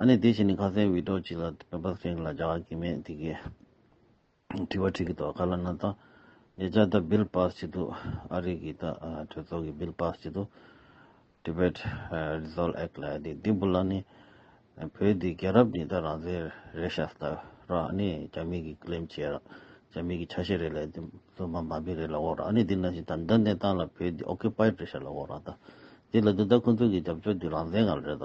ཨ་ནེ་དེ་བཞིན་ནི་ཁ་སེང་བི་ཏོ་ཅི་ལ་བོད་པ་སེང་གེ་ལ་བྱ་བ་གི་མེད་དེ་གི་དྲི་བ་དྲིས་གི་ཏོ་ཁ་ལ་ན་ད་ཉེ་ཆར་ད Bill Pass བྱེད་དུ་ཨ་རི་གི་ད་གྲོས་ཚོགས་གི Bill Pass བྱེད་དུ Tibet Resolve Act ལ་དེ་དེ་བུ་ལ་ནི་བོད་དེ་རྒྱལ་རབས་ནི་ད་རང་བཟེ་རེ་ཤ་ད་ར་ཨ་ནེ་རྒྱ་མི་གི Claim བྱེད་ར་རྒྱ་མི་གི་ཆ་ཤས་རེ་ལ་དེ་བཙོན་པ་འབའ་མི་རེ་ལ་འོག་ར་ཨ་ནེ་དེ་ན་བཞིན་ད་འདི་འདི་ད་ལ་བོད་དེ Occupied རེ་ཤ་ལ་འོག་ར་ད་དེ་ལ་དེ་ད་ཁོང་ཚོ་གི་རྒྱབ་སྐྱོར་དེ་རང་བཟེ་ང་རེ་ད།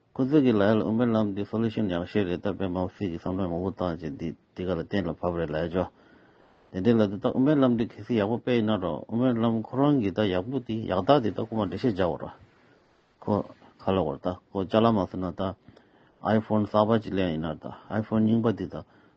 ཁོ་ཚོས་གི་ལའེ་ལ་ཨུ་མའི་ལམ་འདི solution ཡག་ཤོས་རེད་སྟབས་པའི་མའོ་སི་གི་བསམ་བློའི་ངོ་བོ་དག་ཅིག་འདི་འདི་ག་ལ་གཏན་ལ་ཕབ་རེད་ལའེ་ཇོ། དེ་འདྲའི་ལ་དེ་དག་ཨུ་མའི་ལམ་འདི་གལ་སྲིད་ཡག་པོ་དཔེ་ཡིན་ན་རོགས་ཨུ་མའི་ལམ་ཁོ་རང་གི་དག་ཡག་པོ་དེ་ཡག་དག་དེ་དག་ཁོ་མ་འགྲེལ་བཤད་རྒྱག་བར་རོགས། ཁོ་ཁ་ལོ་བར་དག་ཁོ་ལྕགས་ལ་མ་ཟེར་ན་དག iphone གསར་པ་ཅིག་ལེན་ཡིན་ན་དག iphone རྙིང་པ་དེ་དག་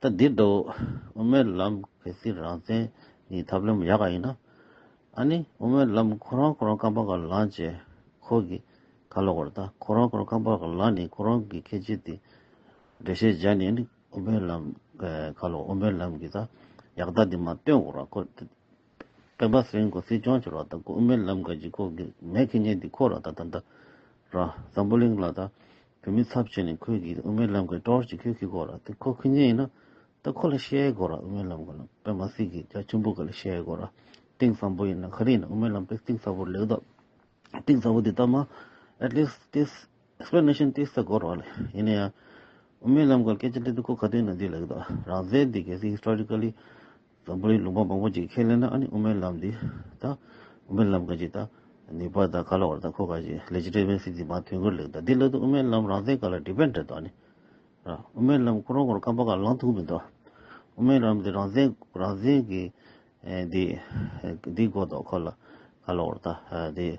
ད་འདི་འདུག་དབུ་མའི་ལམ་གལ་སྲིད་རང་བཙན་གྱི་ཐབས་ལམ་ཡག་ག་ཡིན་ན། ཨ་ནི་དབུ་མའི་ལམ་ཁོ་རང་ཁོ་རང་རྐང་པ་གར་ལངས་བྱས་ཁོ་གི་ཁ་ལོ་བར་ད་ཁོ་རང་ཁོ་རང་རྐང་པ་གར་ལངས་ནས་ཁོ་རང་གི་ཁེ་ཆེ་དེ་འགྲེལ་བཤད་བྱས་ནས་ཨ་ནི་དབུ་མའི་ལམ་ཁ་ལོ་དབུ་མའི་ལམ་གྱི་ད་ཡག་རྟགས་དེ་མ་སྟོན་དགོ་ར་ཁོ་ད་སྤེན་པ་སེང་གོ་སྲིད་སྐྱོང་བྱེད་རོགས་ད་དབུ་མའི་ལམ་ག་གྱི་ཁོ་གི་མེ་ཁེ་ཉེན་དེ་ཁོ་ར་ད་ད་ད་ར་ཟམ་པོ་གླིང་ལ་ད་བུད་མེད་ཚབ་བྱས་ནས་ཁོས་གིས་དབུ་མའི་ལམ་གྱི་སྤྲོ་བར་ཅི་ཁྱོད་ཀྱིས་གོ་ར་དེ་ཁོ་ཁུ་ཉེ་ཡིན་ན་ད་ཁོ་ལ་བཤད་གོ་ར་དབུ་མའི་ལམ་གོ་ན་པད་མ་སི་གིས་རྒྱ་ཆེན་པོ་ག་ལ་བཤད་གོ་ར་གཏིང་ཟབ་པོ་ཡིན་ན་ག་རེ་ཡིན་ན་དབུ་མའི་ལམ་དེ་གཏིང་ཟབ་པོར་ལེགས་འདོག་གཏིང་ཟབ་པོ་དེ་ལྟ་མ at least this explanation དེ་ཟ་གོ་ར་ལ་ཡིན་ན་ཡང་དབུ་མའི་ལམ་གོ་ར་སྐད་ཆ་འདི་དུ་གོ་ག་དུས་ན་འདི་ལེགས་འདོག་རང་བཙན་འདི་གལ་སྲིད historically དང་པོ་ནི་ལུང་པ་མང་པོ་ཅིག་ཁས་ལེན་ན་ཨ་ནི་དབུ་མའི་ལམ་འདི་དང། དབུ་མའི་ལམ་ག་ཅིག་དང། ནི་པ་དང་ཀ་ལ་བར་དང་ཁོ་ག་ཅིག་ལས་ཇི་འདྲའི་དབེན་སིག་འདི་མང་དོན་ཀུན་ལེགས་དང་འདི་སླད་དུ་དབུ་མའི་ལམ་རང་བསྟན་ག་ལ་འགྲིག་པས་འབྲེལ་དོགས་ནི། དབུ་མའི་ལམ་ཁོ་རང་ཁོར་བསྐམ་པ་ཁ་ལང་ཐུག་མི་འདུག། དབུ་མའི་ལམ་འདི་རང་བསྟན་རང་བསྟན་གྱི། འདི། འདི་གོ་ལྡོག་ཁོ་ལ། ཀ་ལ་བར་དང། འདི།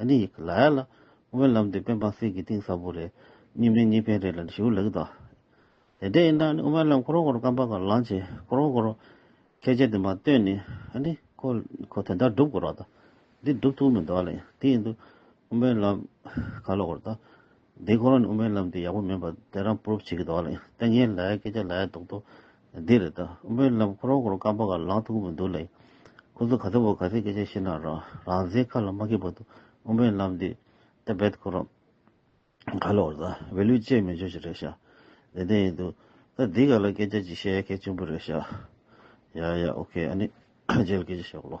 ཨ་ནི་ཡིག་ལ་ཡ་ལ་དབེན་ལམ་དེ་དཔོན་འབངས་སེར་གྱི་གཏིང་ཟབ་པོ་རེད་གཉིས་མིན་གཉིས་ཕན་རེད་ལ་ནི་ཞུ་ལེགས་དང། དེ་འདྲ་ཡིན་ན་ཨ་ནི་དབེན་ལམ་ཁོ་རང་ཁོ་རང་སྐམ་པ་ག་ལང་བྱེད་ཁོ་རང་ཁོ་རང་ཁྱད་ཆེ་དེ་མ་སྟོན་ནི་ཨ་ནི་ཁོ་ཁོ་དེ་འདྲ་སྒྲུབ་དགོས་རོགས་དང་འདི་སྒྲུབ་ཐུབ་མི་འདུག་ཨ་ལ་ཡང་དེ་ཡིན་དུས་དབེན་ལམ་ག་ལོག་རོགས་དང་འདི་ཁོ་རང་ཉུང་མའི་ལམ་དེ་ཡག་པོ་མིན་པ་དེ་རང proof བྱེད་ཀྱི་འདུག་ལ་ལྟས་ངན་ལའི་སྐད་ཆ་ལའི་དོགས་དོགས་འདི་རེད་ད་དབུ་མའི་ལམ་ཁོ་རང་ཁོ་རང་རྐང་པ་ག་ལ་ལངས་ཐུབ་ཀྱི་མི་འདུག་ལ་ཁོ་ཚོ་ག་ཚོད་པོ་ག་ཚོད་སྐད་ཆ་བཤད་ན་རང་རང་བཟའི་ཁ་ལ་མ་སྐྱེས་པ་དུ་དབུ་མའི་ལམ་འདི་སྟབས་བེད་ཁོ་རང་ག་ལ་བཟའ་བེད་ལུས་བཅད་མི་འཇོག་ཅིག་རེད་ཤག་བདེ་བདེ་ཡིན་འདུག་ད་འདི་ག་ལ་སྐད་ཆ་ཅིག་བཤད་ཡ་གལ་ཆེན་པོ་རེད་ཤག་ཡ་ཡ ok ཨ་ནི་རྗེས་ལ་སྐད་ཆ་བཤད་གོ་ལོ།